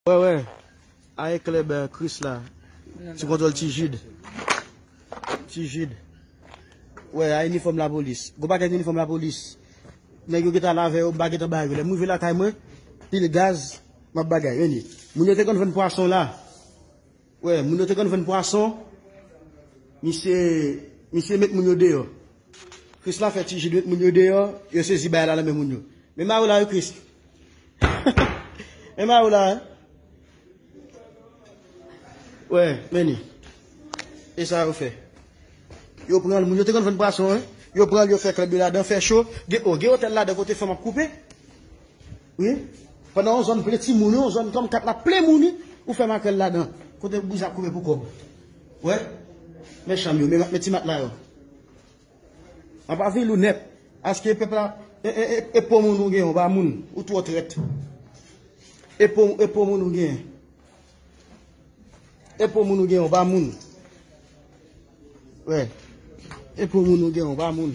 Wè wè ae klèb kris la sou kontwòl ti jid ti jid wè ae inifòm lapolis gwo pakèt inifòm lapolis nèg yo gentan al avè yo m pa gentan ba yo lè m rive lakay mwen pil gaz m ap bagay reni moun yo te konn vann pwason la Wè moun yo te konn vann pwason misye misye met moun yo deyò Christ la fè ti Jude met moun yo deyò yo sezi bagay la nan men moun yo men mari w la wi Christ men mari w la hein wè men li e sa yo fè yo pran moun yo te konn vann pwason hein yo pran yo fè klèb yo ladan fè cho gen o gen otèl ladan kote fanm ap koupe. Wi pandan yon zòn plen timoun yon zòn kòm kat la plen moun wi ou fè makrèl ladan kote bouzen ap kouri pou kòb wè men chanm yo men ti matla yo an pa vil ou nèt aske pèp la e po moun ou gen ou pa moun ou twò trèt e po moun ou gen e po moun ou gen ou pa moun wè e po moun ou gen ou pa moun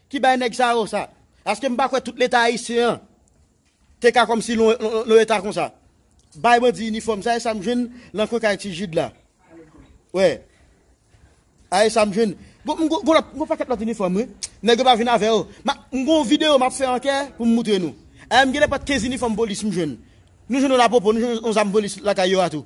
Ki bay nèg sa yo sa? Aske m pa kwè tout leta ayisyen an te ka kòmsi yon eta konsa. Bay bandi inifòm sa e sa m jwenn nan kwen kay ti Jid la. Wè. A e sa m jwenn. Bon, m gwo lòt, m gwo pakèt lòt inifòm wi. Nèg yo pa vin avè yo. M ap, m gwo videyo m ap fè ankè pou m moutre nou. A e m gen nenpòt 15 inifòm polis m jwenn. Nou jwenn yon lapopo, nou jwenn yon zam polis lakay yo a tou.